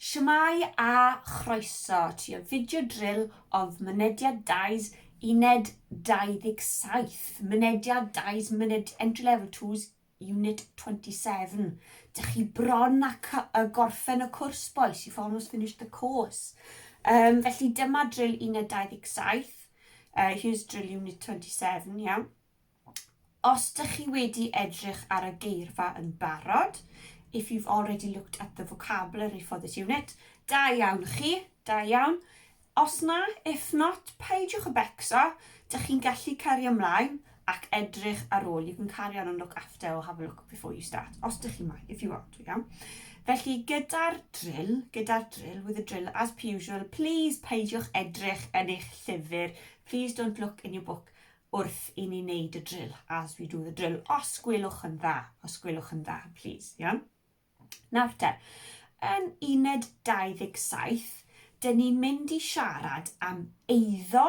Shwmae a chroeso ti y fideo drill of mynediad dais uned 27, mynediad dais myned entry level 2's unit 27. Dych chi bron a uh, gorffen y cwrs boys, you've almost finished the course. Um, felly dyma drill uned 27, uh, here's drill unit 27, iawn. Yeah? Os dych chi wedi edrych ar y geirfa yn barod, if you've already looked at the vocabulary for this unit, da iawn chi, da iawn. Os na, if not, peidiwch y becso, dych chi'n gallu cario ymlaen ac edrych ar ôl. You can carry on and look after or have a look before you start, os dych chi moyn, if you want, iawn. Felly, gyda'r drill, gyda'r drill, with the drill, as per usual, please peidiwch edrych yn eich llyfr, please don't look in your book, wrth i ni wneud y drill, as we do the drill, os gwelwch yn dda, os gwelwch yn dda, please, iawn? Nawr te, yn uned 27, dyn ni'n mynd i siarad am eiddo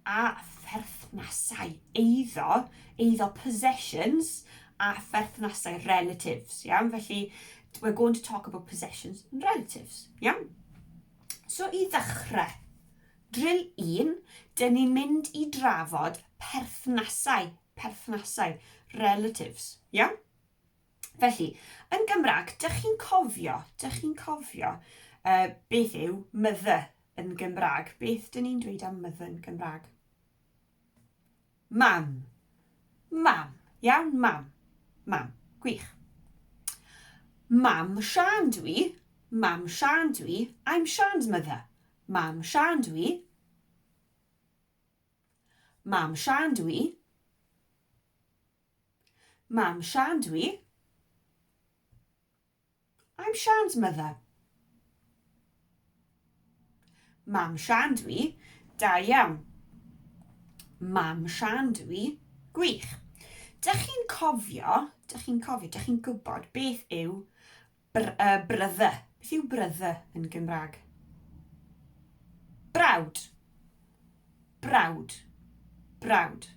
a pherthnasau eiddo, eiddo possessions a pherthnasau relatives, iawn? Felly, we're going to talk about possessions and relatives, iawn? So, i ddechrau, Drill un, dyn ni'n mynd i drafod perthnasau, perthnasau, relatives. Iawn? Felly, yn Gymraeg, dych chi'n cofio, dych chi'n cofio uh, beth yw mother yn Gymraeg? Beth dyn ni'n dweud am mother yn Gymraeg? Mam. Mam. Iawn, mam. Mam. Gwych. Mam Siân dw i. Mam Siân dw i. I'm Sian's mother. Mam Siân dw i. Mam Siân dw i. Mam Siân dw i. I'm Sian's mother. Mam Sian dw i. Da iawn. Mam Sian dw i. Gwych. Dych chi'n cofio, dych chi'n cofio, dych chi'n gwybod beth yw br uh, brother? Beth yw brother yn Gymraeg? Brawd. Brawd. Brawd.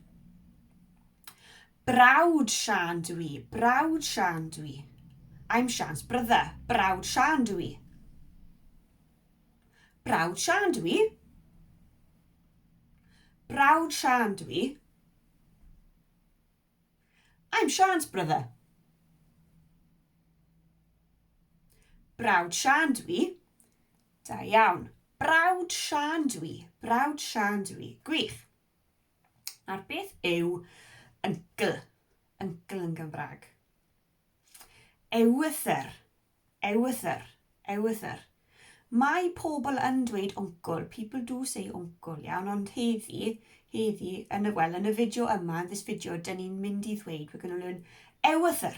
Brawd Siân dw i, brawd Siân dw i. I'm Sian's brother, brawd Siân dw i. Brawd Siân dw i. Brawd Siân dw i. I'm Sian's brother. Brawd Siân dw i. Da iawn. Brawd Siân dw i. Brawd Siân dw i. Gwych. Nawr, beth yw yngl? Yngl yn Gymraeg. Ewythr. Ewythr. Ewythr. Mae pobl yn dweud wncl, people do say wncl, iawn, ond heddi, heddi, yn y, wel, yn y fideo yma, yn this video, dyn ni'n mynd i ddweud, we're going to learn ewythr,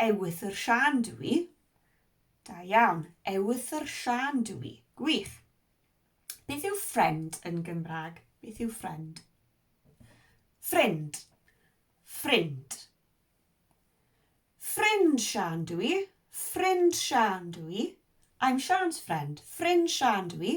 Ewythr Siân dw i. Da iawn. Ewythr Siân dw i. Gwych. Beth yw friend yn Gymraeg? Beth yw friend? Ffrind. Ffrind. Ffrind Siân dw i. Ffrind Siân dw i. I'm Sian's friend. Ffrind Siân dw i.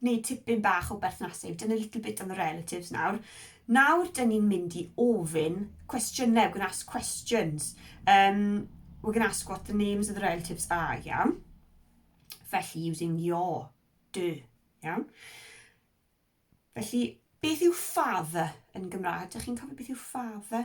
Neu tipyn bach o berthnasu, we've done a little bit on the relatives nawr. Nawr dyn ni'n mynd i ofyn cwestiynau, we're going to ask questions. Um, we're going to ask what the names of the relatives are, iawn? Felly, using your, dy, iawn? Felly, beth yw father yn Gymraeg? Dych chi'n cofio beth yw father?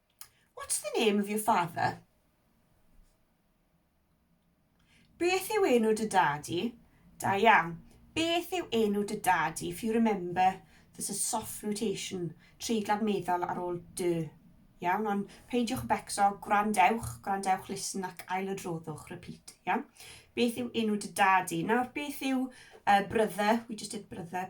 What's the name of your father? Beth yw enw dy dad i? Da iawn. Beth yw enw dy dad i? If you remember, there's a soft rotation, treiglad meddal ar ôl dy. Iawn, ond peidiwch becso, gwrandewch, gwrandewch, listen ac ailodroddwch, repeat. Iawn? Beth yw enw dy dad i? Nawr, beth yw uh, brother? We just did brother.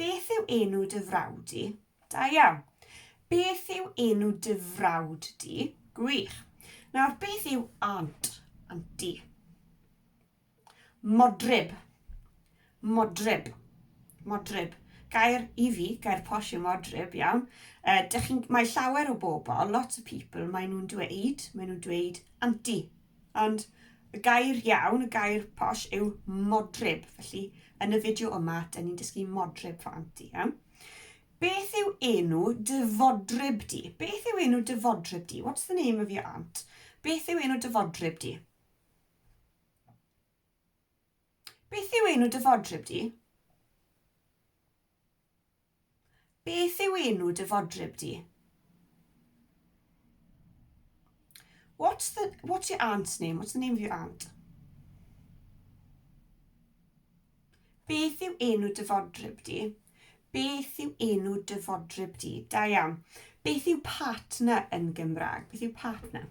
Beth yw enw dy frawd di? Da iawn. Beth yw enw dy frawd di? Gwych. Nawr, beth yw aunt? Aunty. Modryb. Modryb. Modryb. Gair i fi, gair posh yw modryb, iawn. Uh, mae llawer o bobl, lots of people, maen nhw'n dweud, maen nhw'n dweud aunty. Ond y gair iawn, y gair posh yw modryb, felly yn y fideo yma, dyn ni'n dysgu modryb fo anti, iawn? Beth yw enw dy fodryb di? Beth yw enw dy fodryb di? What's the name of your aunt? Beth yw enw dy fodryb di? Beth yw enw dy fodryb di? Beth yw enw dy fodryb di? What's the what's your aunt's name? What's the name of your aunt? Beth yw enw dy fodryb di? Beth yw enw dy fodryb di? Da iawn. Beth yw partner yn Gymraeg? Beth yw partner?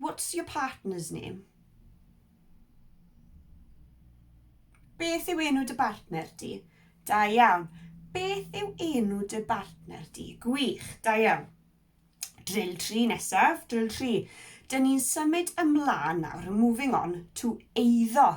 What's your partner's name? Beth yw enw dy bartner di? Da iawn. Beth yw enw dy bartner di? Gwych, da iawn. Drill 3 nesaf, drill 3. Dyn ni'n symud ymlaen nawr, moving on, to eiddo.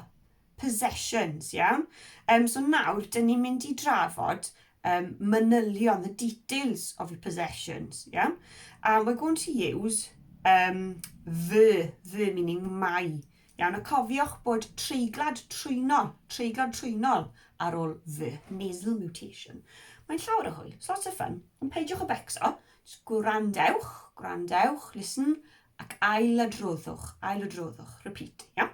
possessions, iawn? Um, so nawr, dyn ni'n mynd i drafod um, manylion, the details of your possessions, iawn? And we're going to use um, the, the meaning my, iawn? A cofiwch bod treiglad trwynol, treiglad trwynol ar ôl the, nasal mutation. Mae'n llawer o hwyl, it's lots of fun, ond peidiwch o becso, just gwrandewch, gwrandewch, listen, ac ail adroddwch, ail adroddwch, repeat, iawn?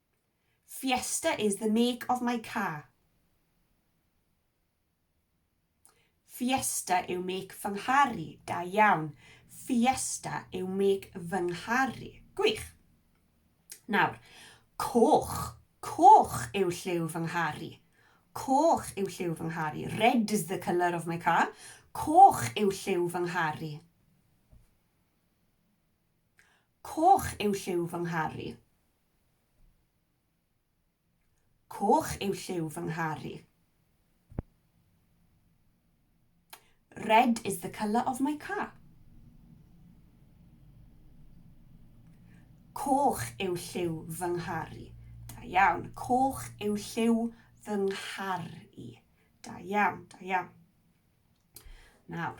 Fiesta is the make of my car. Fiesta yw make fy nghar i. Da iawn. Fiesta yw make fy nghar i. Gwych. Nawr, coch. Coch yw lliw fy nghar i. Coch yw lliw fy nghar i. Red is the colour of my car. Coch yw lliw fy nghar i. Coch yw lliw fy nghar i. Coch yw lliw fy nghar i. Red is the colour of my car. Coch yw lliw fy nghar i. Da iawn. Coch yw lliw fy nghar i. Da iawn, da iawn. Nawr,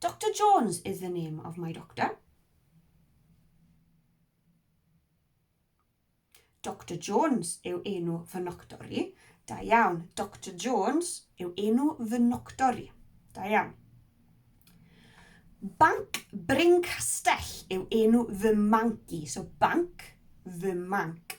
Doctor Jones is the name of my doctor. Doctor Jones yw enw fy noctor i. Da iawn. Doctor Jones yw enw fy noctor i. Da iawn. Banc Bryn Castell yw enw fy manc i. So banc, fy manc.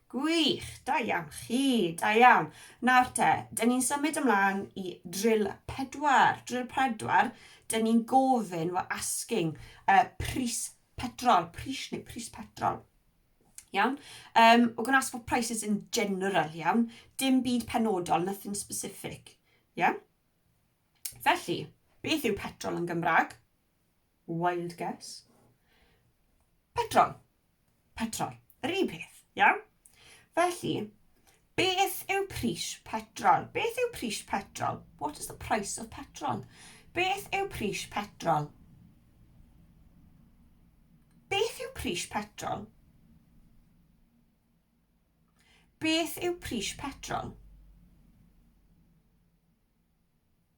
Gwych! Da iawn chi! Da iawn. Nawr te, dyn ni'n symud ymlaen i drill pedwar. Drill pedwar, dyn ni'n gofyn, we're asking, uh, pris petrol, pris neu pris petrol. Iawn? Um, we're going to ask for prices in general, iawn? Dim byd penodol, nothing specific. Iawn? Felly, beth yw petrol yn Gymraeg? Wild guess. Petrol. Petrol. Yr un peth, iawn? Felly, beth yw pris petrol? Beth yw pris petrol? What is the price of petrol? Beth yw pris petrol? Beth yw pris petrol? Beth yw pris petrol?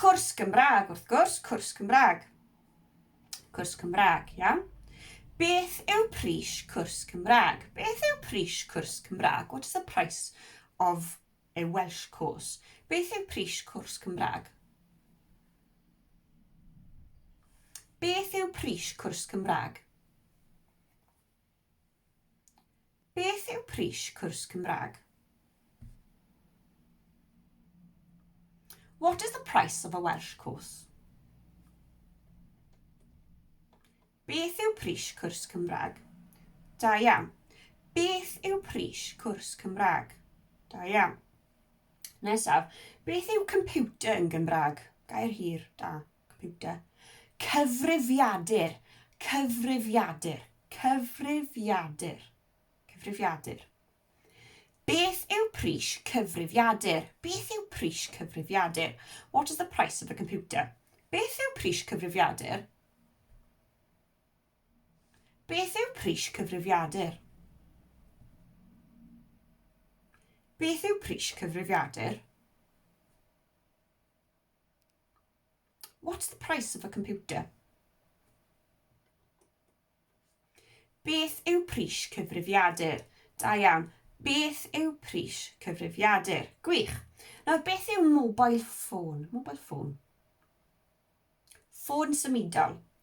Cwrs Gymraeg, wrth gwrs, cwrs Cymraeg. Cwrs Cymraeg, iawn. Beth yw pris cwrs Cymraeg? Beth yw pris cwrs Cymraeg? What is the price of a Welsh course? Beth yw pris cwrs Cymraeg? Beth yw pris cwrs Cymraeg? Beth yw pris cwrs Cymraeg? What is the price of a Welsh course? Beth yw pris cwrs Cymraeg? Da iawn. Beth yw pris cwrs Cymraeg? Da iawn. Nesaf, beth yw computer yn Gymraeg? Gair hir, da. computer, cyfrifiadur, cyfrifiadur, cyfrifiadur, cyfrifiadur. Beth yw pris cyfrifiadur? Beth yw pris cyfrifiadur? What is the price of a computer? Beth yw pris cyfrifiadur? Beth yw pris cyfrifiadur? Beth yw pris cyfrifiadur? What's the price of a computer? Beth yw pris cyfrifiadur? Da iawn. Beth yw pris cyfrifiadur? Gwych. Nawr, beth yw mobile phone? Mobile phone. Ffôn symudol.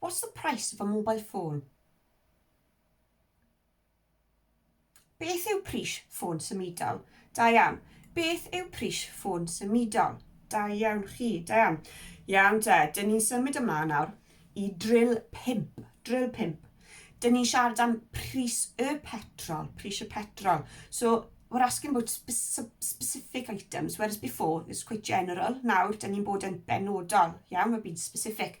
What's the price of a mobile phone? Beth yw pris ffôn symudol? Da iawn. Beth yw pris ffôn symudol? Da iawn chi, da iawn. Iawn te, dyn ni'n symud ymlaen nawr i drill 5. Drill 5. Dyn ni'n siarad am pris y petrol, pris y petrol. So, we're asking about specific items, whereas before, it's quite general. Nawr, dyn ni'n bod yn benodol, iawn, we're being specific.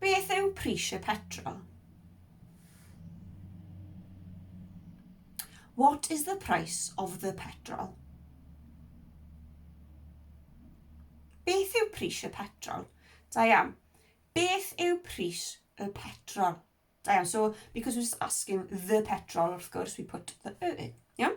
Beth yw pris y petrol? What is the price of the petrol? Beth yw pris y petrol? Da iawn. Beth yw pris y petrol? Da iawn. So, because we're just asking the petrol, wrth gwrs, we put the e in. Iawn?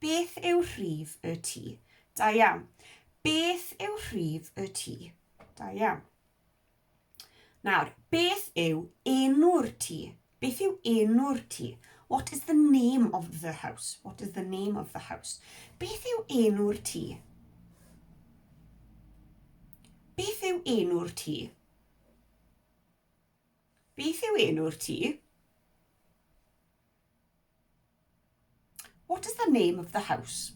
Beth yw rhif y tŷ? Da iawn. Beth yw rhif y tŷ? Da iawn. Nawr, beth yw enw'r tŷ? Beth yw enw'r tŷ? What is the name of the house? What is the name of the house? Beth yw enw'r tŷ? Beth yw enw'r tŷ? Beth yw enw'r tŷ? What is the name of the house?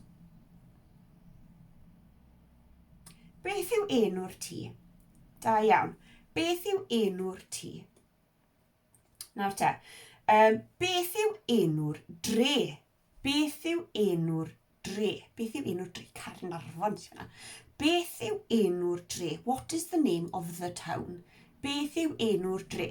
Beth yw enw'r tŷ? Da iawn. Beth yw enw'r tŷ? Nawr te, um, beth yw enw'r dre? Beth yw enw'r dre? Beth yw enw'r dre? Carin Arfon sy'n fyna. Beth yw enw'r dre? What is the name of the town? Beth yw enw'r dre?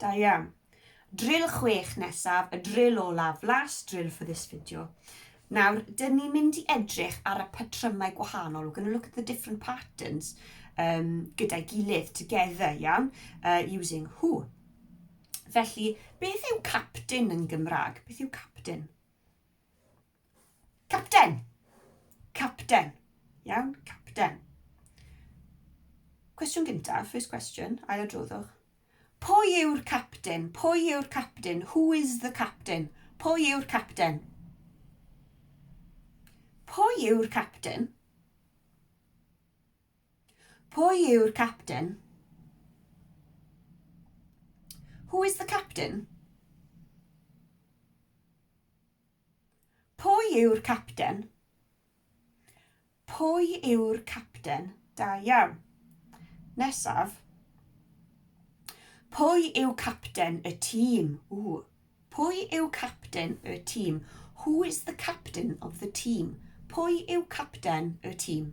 Da iawn. Drill chwech nesaf, y drill olaf, last drill for this video. Nawr, dyn ni'n mynd i edrych ar y patrymau gwahanol. We're going to look at the different patterns um, gyda'i gilydd, together, iawn, uh, using who. Felly, beth yw captain yn Gymraeg? Beth yw captain? Capten. Capten. Iawn, capten. Cwestiwn gyntaf, first question, ail adroddwch. Pwy yw'r captain? Pwy yw'r captain? Who is the captain? Pwy yw'r captain? Pwy yw'r captain? Pwy yw'r captain? Who is the captain? Pwy yw'r capten? Pwy yw'r capten? Da iawn. Nesaf. Pwy yw capten y tîm? Ww. Pwy yw capten y tîm? Who is the captain of the team? Pwy yw capten y tîm?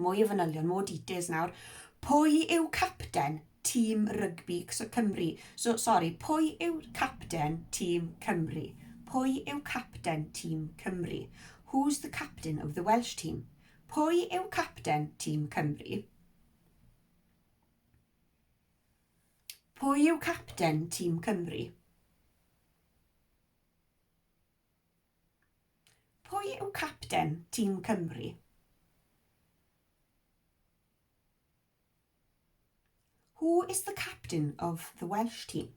Mwy o fanylion, more details nawr. Pwy yw capten tîm rygbi Cymru? So, sorry, pwy yw capten tîm Cymru? Pwy yw capten tîm Cymru? Who's the captain of the Welsh team? Pwy yw capten tîm Cymru? Pwy yw capten tîm Cymru? Pwy yw capten tîm Cymru? Who is the captain of the Welsh team?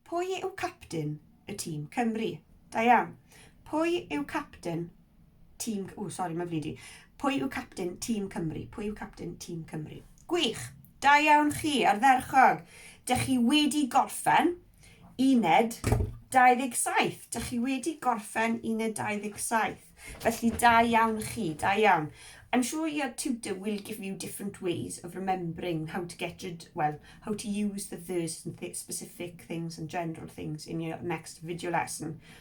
Pwy yw capten y tîm Cymru? Da iawn. Pwy yw capten Tîm... Ww, sori, mae'n flin i. Pwy yw capten Tîm Cymru? Pwy yw capten Tîm Cymru? Gwych! Da iawn chi, ardderchog! Dych chi wedi gorffen uned 27. Dych chi wedi gorffen uned 27. Felly, da iawn chi, da iawn. I'm sure your tutor will give you different ways of remembering how to get rid, well, how to use the verse and th specific things and general things in your next video lesson.